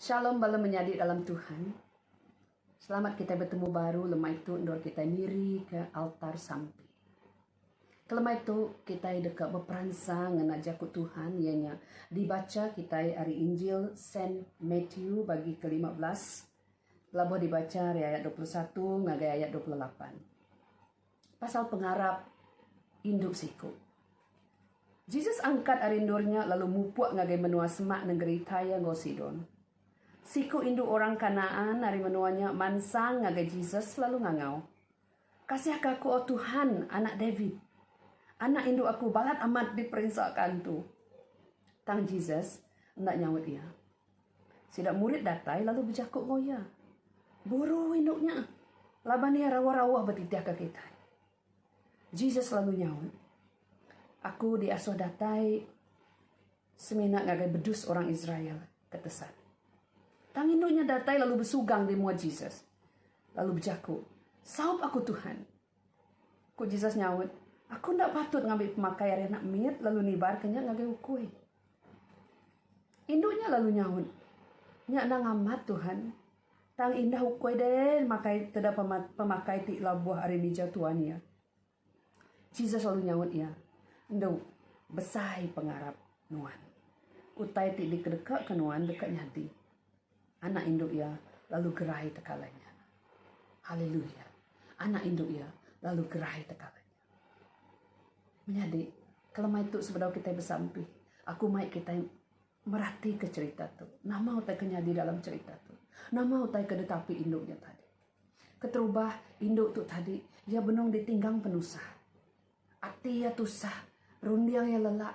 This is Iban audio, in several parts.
Shalom bala menyadi dalam Tuhan. Selamat kitai betemu baru lemai tu endur kitai nirika altar sampi. Kelemai tu kitai deka beperansang ngena jaku Tuhan iya nya dibacha kitai ari Injil Saint Matthew bagi ke-15 Labuh dibacha ari ayat dua puluh satu ngagai ayat dua puluh lapan pasal pengarap indu siku. Jesus angkat ari endur nya lalu mupuk ngagai menua semak nengeri Tyre enggau Sidon. Siku indu orang Kanaan ari menua nya mansang ngagai Jesus lalu ngangau, Kasihka aku, O Tuhan, Anak David. Anak indu aku balat amat diperinsa ke antu. Tang Jesus enda nyaut iya. Sida murid datai lalu bejaku enggau iya, Guru, indu nya laban iya rawa-rawa betitihka kitai. Jesus lalu nyaut, Aku diasuh datai semina ngagai bedus orang Israel ke tesat. Tang indu nya datai lalu besugang di mua Jesus, lalu bejaku, Saup aku, Tuhan. Ku Jesus nyaut, Aku enda patut ngambi pemakai ari anak mit lalu nibarka nya ngagai ukui. Indu nya lalu nyaut, Nya anang amat, Tuhan. Tang indah ukui deh makai teda pemakai ti labuh ari mija tuan iya. Jesus lalu nyaut iya, Endu, besai pengarap nuan. Utai ti dikedekaka nuan deka nyadi. Anak indu iya lalu gerai tekala nya. Haleluya! Anak indu iya lalu gerai tekala nya. Menyadi kelemai tu sebedau kitai besampi aku mai kitai meratika cerita tu nama utai ke nyadi dalam cerita tu nama utai ke ditapi indu nya tadi. Keterubah indu tu tadi iya benung ditinggang penusah ati iya tusah runding iya lelak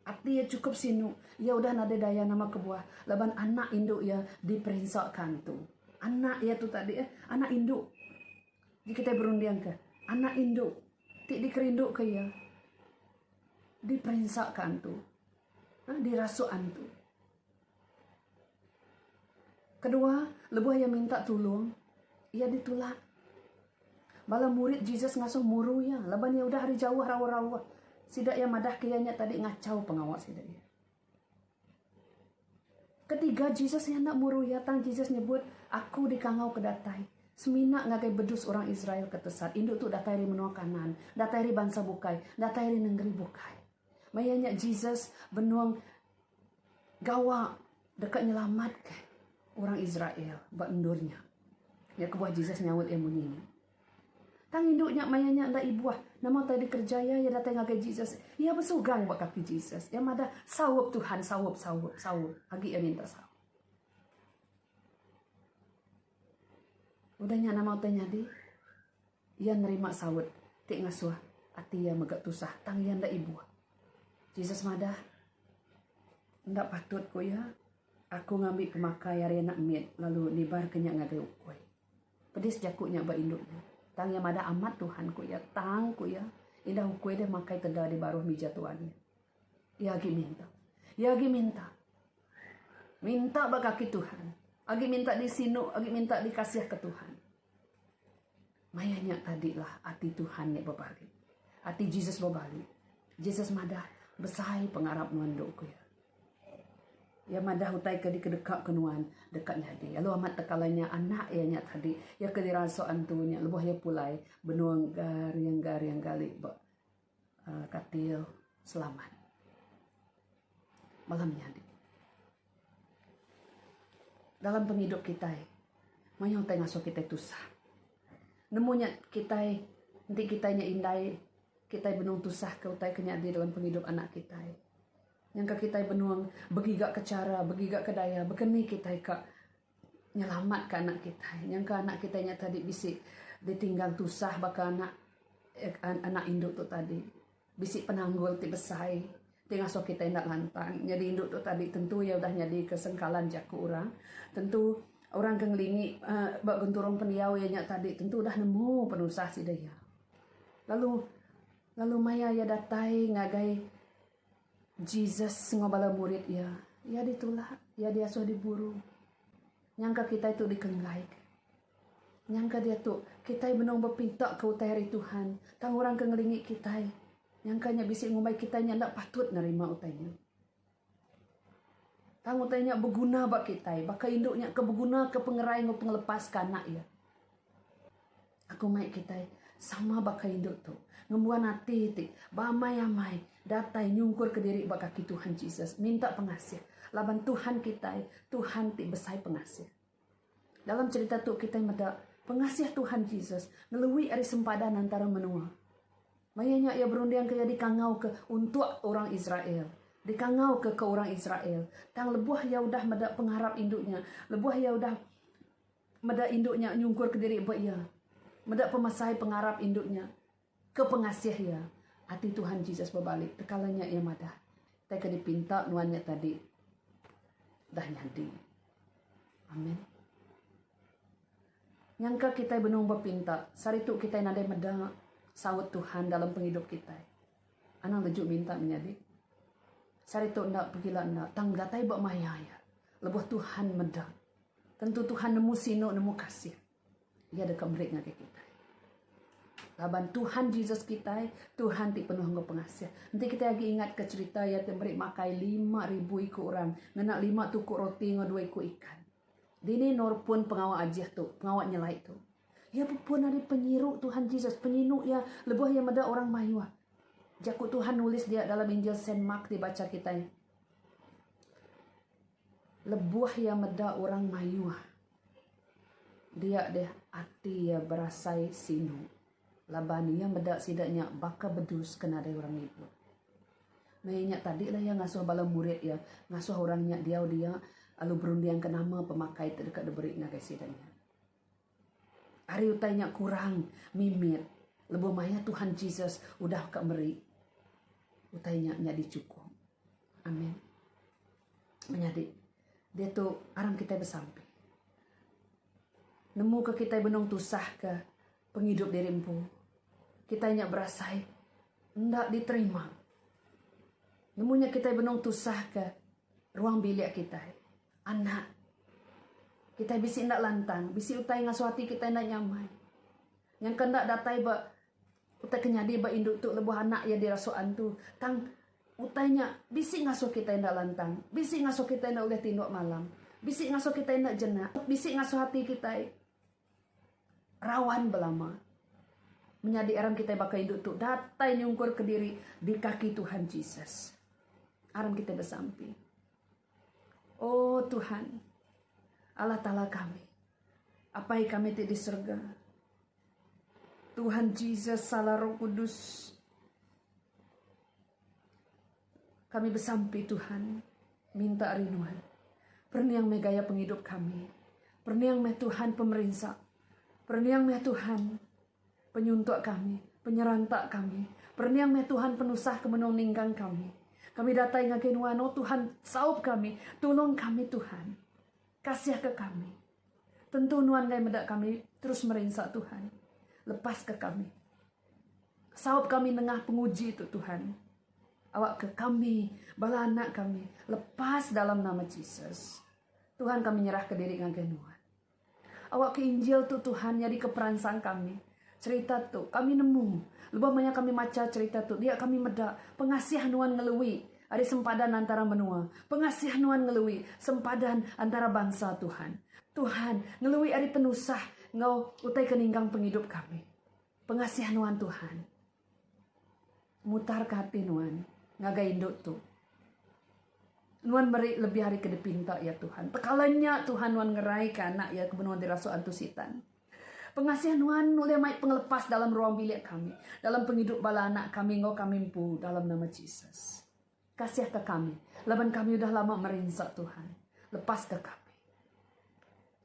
ati iya chukup sinu iya udah nadai daya nama kebuah laban anak indu iya diperinsa ka antu anak iya tu tadi anak indu. Ji kitai berundingka anak indu ti dikerinduka iya diperinsaka antu, dirasuk antu. Kedua, lebuh iya minta tulung, iya ditulak. Bala murid Jesus ngasuh muru iya laban iya udah ari jauh rawa-rawa sida iya madahka iya nya tadi ngachau pengawa sida iya. Ketiga Jesus nyana muru iya tang Jesus nyebut aku dikangau ke datai semina ngagai bedus orang Israel ke tesat indu tu datai ari menua Kanaan, datai ari bansa bukai, datai ari nengeri bukai. Maya nya Jesus benung gawa deka nyelamatka orang Israel ba endur nya. Nya kebuah Jesus nyaut iya munyi nya. Tang indu nya maya nya enda ibuh nama utai dikerejaya iya datai ngagai Jesus. Iya besugang ba kaki Jesus. Iya madah, Saup, Tuhan, saup, saup, saup. Agi iya minta saup. Udah nya nama utai nyadi? Iya nerima saup ti ngasuh ati iya mega tusah tang iya enda ibuh. Jesus madah, Enda patut ku iya, aku ngambi pemakai ari anak mit lalu nibarka nya ngagai ukui. Pedis jaku nya ba indu nya. Tang iya madah amat Tuhan, ku iya. Tang, ku iya, indah ukui deh makai teda di baruh mija tuan nya. Iya agi minta. Iya agi minta. Minta ba kaki Tuhan. Agi minta disinu, agi minta dikasihka Tuhan. Maya nya tadilah ati Tuhan nya bebalik. Ati Jesus bebalik. Jesus madah, Besai pengarap nuan dok, ku iya. Iya madah utai ke dikedekaka nuan deka nyadi. Lalu amat tekalai nya anak iya nya tadi. Iya ke dirasuk antu nya lebuh iya pulai benung garing-garing gali ba uhh katil selamat malam nyadi. Dalam pengidup kitai mayuh utai ngasuh kitai tusah. Nemu nya kitai enti kitai nya indai kitai benung tusah ke utai ke nyadi dalam pengidup anak kitai. Nyangka kitai benung begiga ke chara, begiga ke daya baka ni kitai ka nyelamat ka anak kitai. Nyangka anak kitai nya tadi bisi ditinggang tusah baka anak anak indu tu tadi. Bisi penanggul ti besai ti ngasuh kitai enda lantang. Nyadi indu tu tadi tentu iya udah nyadi ke sengkalan jaku orang. Tentu orang ke ngelingi uhh ba genturung pendiau iya nya tadi tentu udah nemu penusah sida iya. Lalu lalu maya iya datai ngagai. Jesus enggau bala murid iya, iya ditulak, iya diasuh diburu. Nyangka kitai tu dikenggaika. Nyangka diatu, kitai benung bepintaka utai ari Tuhan, tang orang ke ngelingi kitai nyangka nya bisi ngumbai kitai nya enda patut nerima utai nya. Tang utai nya beguna ba kitai, baka indu nya ke begunaka pengerai enggau pengelepas ke anak iya. Aku mai kitai sama baka indu tu ngembuan ati ti beamai-amai datai nyungkurka diri ba kaki Tuhan Jesus minta pengasih laban Tuhan kitai Tuhan ti besai pengasih. Dalam cherita tu kitai meda pengasih Tuhan Jesus ngelui ari sempadan antara menua. Maya nya iya berundingka iya dikangauka untuk orang Israel dikangauka ke orang Israel tang lebuh iya udah meda pengarap indu nya lebuh iya udah Meda indu nya nyungkurka diri ba iya. Meda pemesai pengarap indu nya ke pengasih iya. Ati Tuhan Jesus bebali tekala nya iya madah, Tei ke dipinta nuan nya tadi dah nyadi. Amen. Nyangka kitai benung bepinta, sehari tu kitai nadai meda saut Tuhan dalam pengidup kitai. Anang leju minta menyadi. Sehari tu enda pegila enda tang datai ba maya iya lebuh Tuhan meda. Tentu Tuhan nemu sinu nemu kasih Iya deka meri ngagai kitai. Laban Tuhan Jesus kitai, Tuhan ti penuh enggau pengasih. Enti kitai agi ingatka cherita Iya ti meri makai lima ribu iku orang ngena lima tuku roti enggau dua iku ikan. Dini Nor pun pengawa ajih tu, pengawa nyelai tu. Iya pun ari penyiru Tuhan Jesus, penyinu Iya lebuh Iya meda orang mayuh. Jaku Tuhan nulis dia dalam Injil Saint Mark dibacha kitai. Lebuh iya meda orang mayuh, dia deh ati iya berasai sinu laban iya meda sida nya baka bedus ke nadai orang ngibut. Maya nya tadi lah iya ngasuh bala murid iya ngasuh orang nya diau dia lalu berundingka nama pemakai ti deka diberi ngagai sida nya. Ari utai nya kurang mimit lebuh maya Tuhan Jesus udah ka meri, utai nya nyadi chukup. Amen. Menyadi, diatu aram kitai besampi. Nemu ke kitai benung tusah ke pengidup diri empu, kitai nya berasai enda diterima. Nemu nya kitai benung tusah ke. Ruang bilik kitai. Anak. Kitai bisi enda lantang, bisi utai ngasuh ati kitai enda nyamai. Nyangka enda datai ba utai ke nyadi ba indu tu lebuh anak iya dirasuk antu. Tang utai nya bisi ngasuh kitai enda lantang, bisi ngasuh kitai enda ulih tinduk malam, bisi ngasuh kitai enda jenak, bisi ngasuh ati kitai. Rawan belama menyadi aram kitai baka indu tu datai nyungkur ke diri di kaki Tuhan Jesus. Aram kitai besampi. Oh Tuhan, Allah Taala kami, Apai kami ti di serega, Tuhan Jesus, Sala Roh Kudus, Kami besampi Tuhan minta ari nuan perniang meh gaya pengidup kami perniang meh Tuhan pemerinsa perniang meh Tuhan penyuntuk kami penyeranta kami perniang meh Tuhan penusah ke menung ninggang kami kami datai ngagai nuan oh Tuhan saup kami tulung kami Tuhan kasih ke kami tentu nuan ngai meda kami terus merinsa Tuhan lepas ke kami saup kami nengah penguji tu Tuhan. Awakka kami, bala anak kami, lepas dalam nama Jesus. Tuhan kami nyerahka diri ngagai Nuan. Awakka Injil tu Tuhan nyadika peransang kami. Cerita tu kami nemu. Lebuh maya kami macha cerita tu, dia kami meda pengasih Nuan ngelui ari sempadan antara menua. Pengasih Nuan ngelui sempadan antara bansa Tuhan. Tuhan ngelui ari penusah enggau utai ke ninggang pengidup kami. Pengasih Nuan Tuhan. Mutarka ati nuan ngagai indu tu. Nuan meri lebih ari ke dipinta iya Tuhan. Tekala nya Tuhan nuan ngeraika anak iya ke benung dirasuk antu Sitan. Pengasih nuan ulih mai pengelepas dalam ruang bilik kami, dalam pengidup bala anak kami enggau kami empu dalam nama Jesus. Kasihka kami laban kami udah lama merinsa Tuhan. Lepaska kami.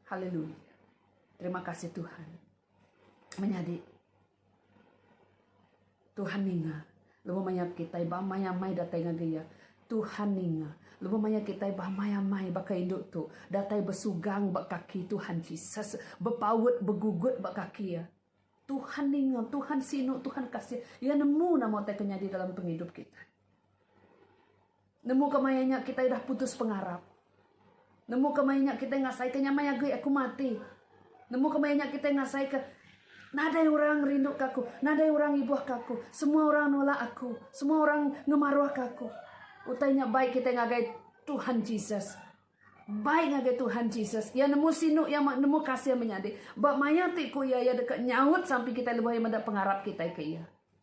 Haleluya. Terima kasih Tuhan. Menyadi. Tuhan ninga. Lebuh maya kitai beamai-amai datai ngagai Iya, Tuhan ninga. Lebuh maya kitai beamai-amai baka indu tu, datai besugang ba kaki Tuhan Jesus, bepaut begugut ba kaki Iya, Tuhan ninga, Tuhan sinu, Tuhan kasih. Iya nemu nama utai ke nyadi dalam pengidup kitai. Nemu ke maya nya kitai udah putus pengarap. Nemu ke maya nya kitai ngasaika nya maya agi aku mati. Nemu ke maya nya kitai ngasaika nadai orang ngerinduka aku, nadai orang ngibuhka aku, semua orang nolak aku, semua orang ngemaruhka aku. Utai nya bai kitai ngagai Tuhan Jesus. Bai ngagai Tuhan Jesus. Iya nemu sinu iya nemu kasih menyadi. Ba maya ti ku iya, iya deka nyaut sampi kitai lebuh iya meda pengarap kitai ke iya.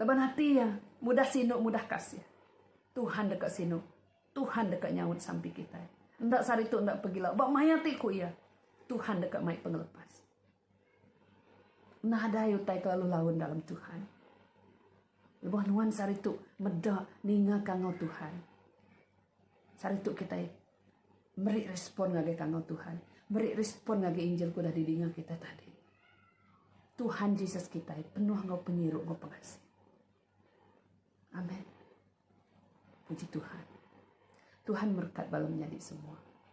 Laban ati iya mudah sinu mudah kasih. Tuhan deka sinu. Tuhan deka nyaut sampi kitai. Enda sehari tu enda pegila. Ba maya ti ku iya. Tuhan deka mai pengelepas. Nadai utai ke lalu laun dalam Tuhan. Lebuh nuan sehari tu meda ninga kangau Tuhan. Sehari tu kitai meri respon ngagai tangau Tuhan, meri respon ngagai injil ke udah didinga kitai tadi. Tuhan Jesus kitai penuh enggau penyiru enggau pengasih. Amen. Puji Tuhan. Tuhan merekat bala menyadi semua.